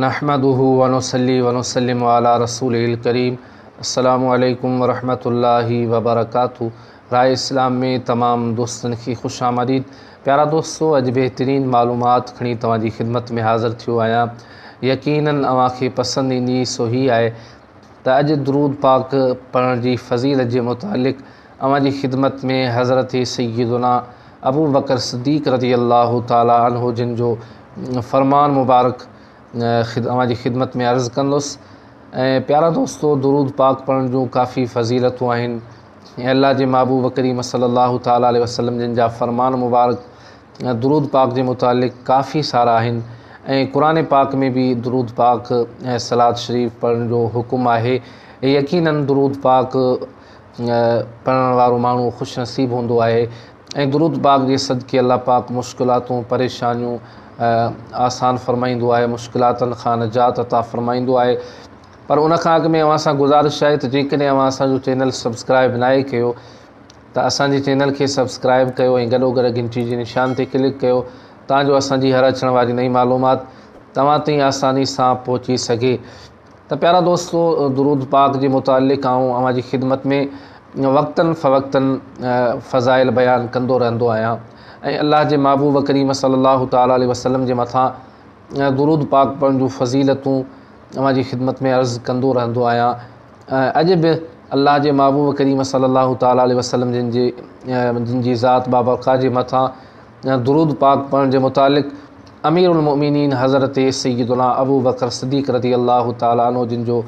نحمده ونصلي ونسلم علي رسوله الڪريم السلام عليڪم ورحمة الله وبرڪاته راء اسلام ۾ تمام دوستن کي خوش آمديد پيارا دوستو اڄ بهترين معلومات کڻي توهان جي خدمت ۾ حاضر ٿيو آهيان يقينا اوهان کي پسند ايندي سو هي آهي ته اڄ درود پاڪ پڙهڻ جي فضيلت جي متعلق اوهان جي خدمت ۾ حضرت سيدنا ابو بڪر صديق رضي الله تعالٰي عنه جن جو فرمان مبارڪ اوهان جي خدمت ۾ عرض ڪندس ۽ پيارا دوستو درود پاڪ پڙهڻ جون ڪافي فضيلتون آهن ۽ الله جي محبوب ڪريم صلي الله تعالٰي عليه وسلم جن جا فرمان مبارڪ درود پاڪ جي متعلق ڪافي سارا آهن ۽ قرآن پاڪ ۾ به درود پاڪ ۽ سلاد شريف پڙهڻ جو حڪم آهي يقيناً درود پاڪ پڙهڻ وارو ماڻهو خوش نصيب هوندو آهي ۽ درود پاڪ جي صدقي الله پاڪ مشڪلاتون پريشانيون آسان فرمائيندو آهي مشڪلاتن کان نجات عطا فرمائيندو آهي پر ان کان اڳ ۾ اوهان سان گزارش آهي ته جيڪڏهن اوهان اسانجو چينل سبسڪرائب ناهي ڪيو ته اسانجي چينل کي سبسڪرائب ڪيو ۽ گڏو گڏ گهنٽي جي نشان تي ڪلڪ ڪيو تان جو اسانجي هر اچڻ واري نئي معلومات توهان تائين آساني سان پهچي سگهي ته پيارا دوستو درود پاڪ جي متعلق آئون اوهان جي خدمت ۾ وقتاً فوقتاً فضائل بيان ڪندو رهندو آهيان ۽ الله جي محبوب ڪريم صلي الله تعالٰي عليه وسلم جي مٿان درود پاڪ پڙهڻ جون فضيلتون اوهان جي خدمت ۾ عرض ڪندو رهندو آهيان اڄ به الله جي محبوب ڪريم صلي الله تعالٰي عليه وسلم جن جي جن جي ذات بابرڪاء جي مٿان يا درود پاڪ پڙهڻ جي متعلق امير المؤمنين حضرت سيدنا ابو بڪر صديق رضي الله تعالٰي عنه جن جو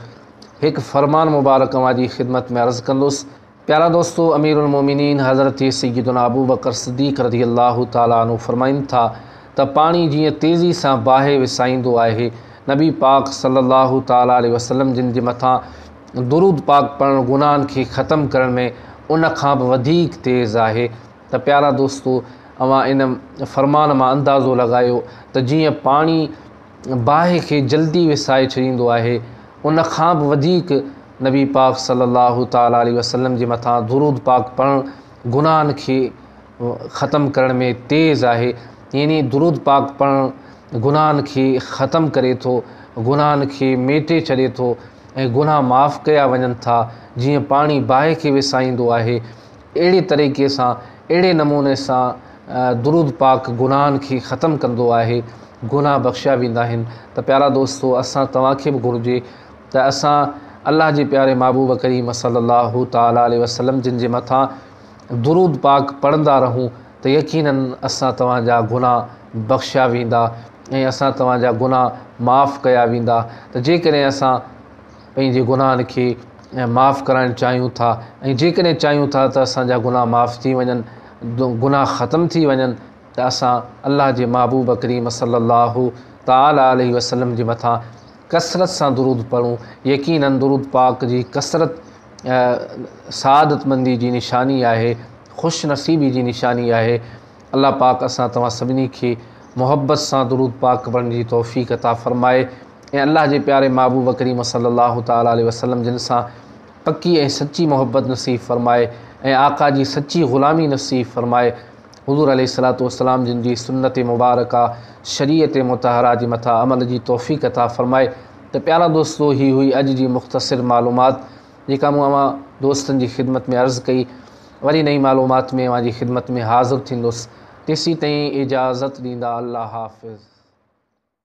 هڪ فرمان مبارڪ اوهان جي خدمت ۾ عرض ڪندس پيارا دوستو امير المؤمنين حضرت سيدنا ابو بڪر صديق رضي الله تعالٰي عنه فرمائن ٿا ته پاڻي جيئن تيزي سان باهه وسائيندو آهي نبي پاڪ صلي الله تعالٰي عليه وسلم جن جي مٿان درود پاڪ پڙهڻ گناهن کي ختم ڪرڻ ۾ ان کان به وڌيڪ تيز آهي ته پيارا دوستو! اوهان ان فرمان مان اندازو لڳايو ته جيئن پاڻي باهه کي جلدي وسائي ڇڏيندو آهي، ان کان به وڌيڪ نبي پاڪ صلّي اللّٰه تعالٰي عليه وسلّم جي مٿان درود پاڪ پڙهڻ گناهن کي ختم ڪرڻ ۾ تيز آهي، يعني درود پاڪ پڙهڻ گناهن کي ختم ڪري ٿو، گناهن کي ميٽي ڇڏي ٿو ۽ گناهه معاف ڪيا وڃن ٿا، جيئن پاڻي باهه کي وسائيندو آهي. اهڙي طريقي سان اهڙي نموني سان درود پاڪ گناهن کي ختم ڪندو آهي گناهه بخشيا ويندا آهن ته پيارا دوستو اسان توهان کي به گهرجي ته اسان الله جي پياري محبوب ڪريم صلي الله تعالٰي عليه وسلم جن جي مٿان درود پاڪ پڙهندا رهون ته يقيناً اسان توهان جا گناهه بخشيا ويندا ۽ اسان توهان جا گناهه معاف ڪيا ويندا ته جيڪڏهن اسان پنهنجي گناهن کي معاف ڪرائڻ چاهيون ٿا ۽ جيڪڏهن چاهيون ٿا ته اسان جا گناهه معاف ٿي وڃن گناهه ختم ٿي وڃن ته اسان الله جي محبوب ڪريم صلي الله تعالٰي عليه وسلم جي مٿان ڪثرت سان درود پڙهون يقينن درود پاڪ جي ڪثرت سعادت مندي جي نشاني آهي خوش نصيبي جي نشاني آهي الله پاڪ اسان توهان سڀني کي محبت سان درود پاڪ پڙهڻ جي توفيق عطا فرمائي ۽ الله جي پياري محبوب ڪريم صلي الله تعالٰي عليه وسلم جن سان پڪي ۽ سچي محبت نصيب فرمائي ۽ آقا جي سچي غلامي نصيب فرمائي حضور عليه الصلاة والسلام جن جي سنت مبارڪه شريعت مطهره جي مٿان عمل جي توفيق عطا فرمائي ته پيارا دوستو هي هئي اڄ جي مختصر معلومات جيڪا مون اوهان دوستن جي خدمت ۾ عرض ڪئي، وري نئين معلومات ۾ اوهان جي خدمت ۾ حاضر ٿيندس، تيسين تائين اجازت ڏيندا الله حافظ.